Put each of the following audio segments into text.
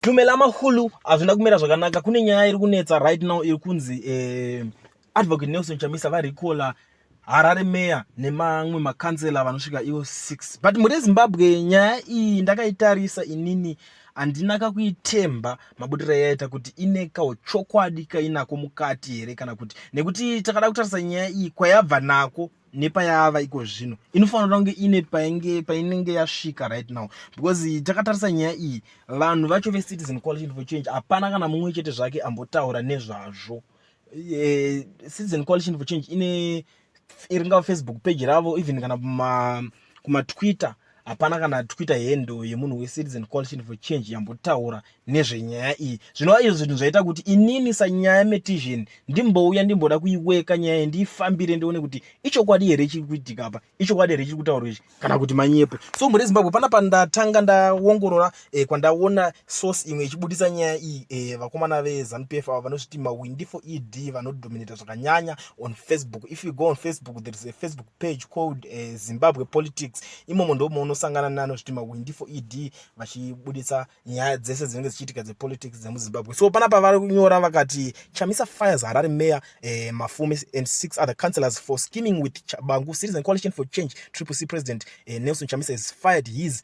Tumela Mahulu hazvina kumira zvakanaka kune nyaya iri kunetsa right now iri kunzi eh, Advocate Nelson Chamisa varikola Harare Mayor nemamwe makansela vanosvika ivo 6 but mure Zimbabwe nyaya iyi ndakaitarisa inini handina kakuitemba mabudiro yaita kuti ine kauchokwadi kainako mukati here kana kuti nekuti takada kutarisa nyaya iyi kwayabva nako nepayava iko zvino inofanira kunge ine painge painenge yasvika right now because takatarisa nyaya iyi vanhu vacho vecitizen coalition for change hapana kana mumwe chete zvake ambotaura nezvazvo e, citizen coalition for change ine iringava facebook page ravo even kana kuma kumatwitter hapana kana twita hendo yemunhu wecitizen coalition for change yambotaura nezvenyaya iyi zvinova izvo zvinhu zvaita kuti inini sanyaya metision ndimbouya ndimboda kuiweka nyaya iyi ndiifambire ndione kuti ichokwadi here chiri kuitika apa ichokwadi here chiri kutaurwa ichi kana kuti manyepo so mhuri yezimbabwe pana pandatanga ndaongorora eh, kwandaona source imwe ichibudisa nyaya iyi eh, vakomana vezanu p f ava vanozviti mawindi for ed vanodominata zvakanyanya on facebook if you go on facebook there is a facebook page called eh, zimbabwe politics imomo ndomo unosangana nanozviti mawindi for ed vachibudisa nyaya dzese dzinenge dzichiitika dzepolitics dzemuzimbabwe so pana pavari kunyora vakati chamisa fires harare mayor eh, mafume and six other councillors for scheming with chabangu citizen coalition for change triple c president eh, nelson chamisa is fired his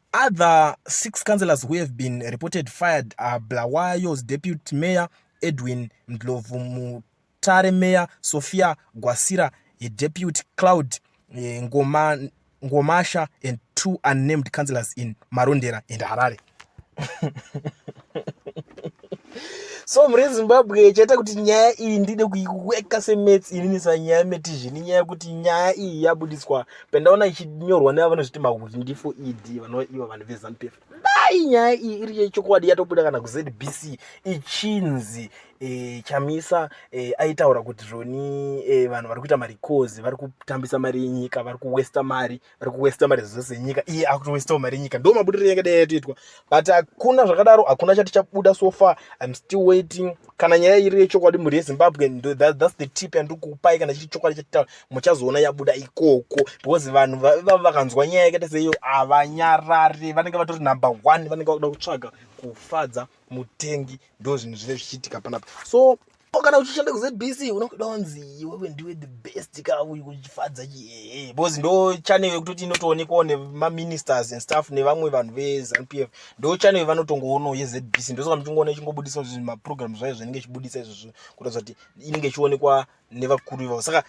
Other six councillors who have been reported fired are Bulawayo's deputy mayor Edwin Ndlovu, Mutare mayor Sophia Gwasira, a deputy Cloud eh, Ngoma, Ngomasha and two unnamed councillors in Marondera and Harare. so muri zimbabwe chaita kuti nyaya iyi ndide kuiweka semets inini sanyaya metizhini nyaya yekuti nyaya iyi yabudiswa pandaona ichinyorwa nevanozviti makuti ndifo ed vanova ivo vanhu vezanup f dai nyaya iyi iri yechokwadi yatobuda kana kuzbc ichinzi e, chamisa e, aitaura kuti zvoni e, vanhu vari kuita mari coz vari kutambisa mari yenyika vari kuwesta mari vari kuwesta mari zvose nyika iye akutowestawo mari yenyika ndo mabudiriro yanga dai yatoitwa but hakuna zvakadaro hakuna chati chabuda so far im still waiting kana nyaya iri yechokwadi mhuri yezimbabwe that, that's the tip yandikupai kana chiri chokwadi chatitaura muchazoona yabuda ikoko because vanhu vava vakanzwa nyaya yakaita seiyo havanyarare vanenge vatori number one vanenge vakuda kutsvaga kufadza mutengi ndo zvinhu zvinenge zvichiitika panapa so kana uchishanda kuzbc unokuda wanzi wewe ndiwe the best ka uyu kuchifadza chii because ndo channel yekutoti inotoonekwawo nemaministers and staff nevamwe vanhu vezanup f ndo channel yevanotongoonawo yezbc ndosoka muchingoona ichingobudisa maprogram zvayo zvinenge ichibudisa izvozvo kuratidza kuti inenge ichionekwa nevakuru ivavo saka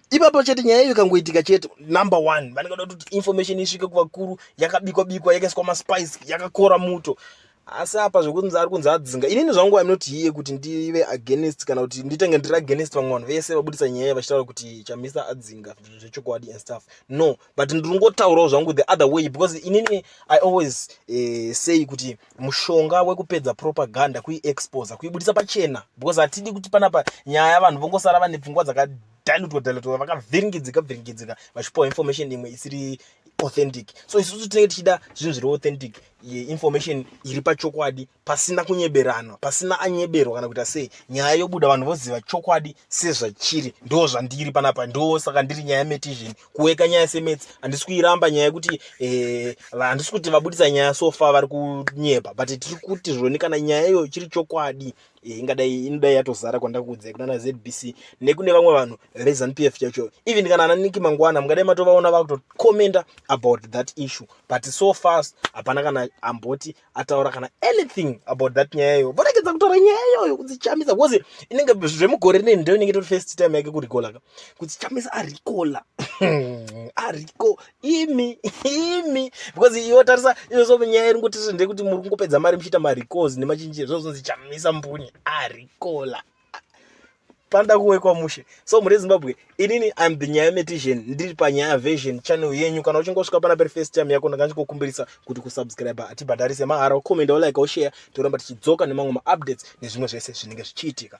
ipapo chete nyaya iyo ikangoitika chete number one vanenge vada kuti information isvike kuvakuru yakabikwa bikwa yakaiswa maspice yakakora muto asi apa zvekunzi ari kunzi adzinga inini zvangu i'm not here kuti ndive against kana kuti nditenge ndiri against vamwe vanhu vese vabudisa nyaya vachitaura kuti chamisa adzinga zvechokwadi and stuff no but ndiri kungotaurawo zvangu the other way because inini i always uh, say kuti mushonga wekupedza propaganda kuiexposa kuibudisa pachena because hatidi kuti panapa nyaya vanhu vongosara vane pfungwa dzaka dilutwa dilutwa vakavhiringidzika vhiringidzika vachipiwa information imwe isiri authentic so isusu tinenge tichida zvinhu zviri authentic information iri pachokwadi pasina kunyeberanwa pasina anyeberwa kana kuita sei nyaya yobuda vanhu voziva chokwadi sezvachiri ndo zvandiri panapa ndo saka ndiri nyaya metizhen kuweka nyaya semets handisi kuiramba nyaya yekuti eh, handisi kuti vabudisa nyaya sofa vari kunyepa but tiri kuti zvoni kana nyaya iyoyo chiri chokwadi Eh, ingadai inodai yatozara kwandakuudzai kunana zbc nekune vamwe vanhu rezanup f chacho even kana ana niki mangwana mungadai matovaona vakutocommenta about that issue but so fast hapana kana amboti ataura kana anything about that nyaya iyoyo voregedza kutaura nyaya iyoyo kudzichamisa bcause inenge zvemugore rine ndo inenge tori first time yake kurikolaka kudzichamisa arikola ariko imi imi because iwo tarisa izvozvo munyaya iri ngoti zvende kuti muri kungopedza mari muchiita maricals nemachinjire zvozonzi chamisa mbunye aricola ah, panda kuwekwa mushe so muri zimbabwe inini im the nyaya metition ndiri panyaya version channel yenyu kana uchingosvika pana peri first time yako ndanga ndichikukumbirisa kuti kusubscribe hatibhadharise mahara ucomenda ulike ushare toramba tichidzoka nemamwe maupdates nezvimwe zvese zvinenge zvichiitika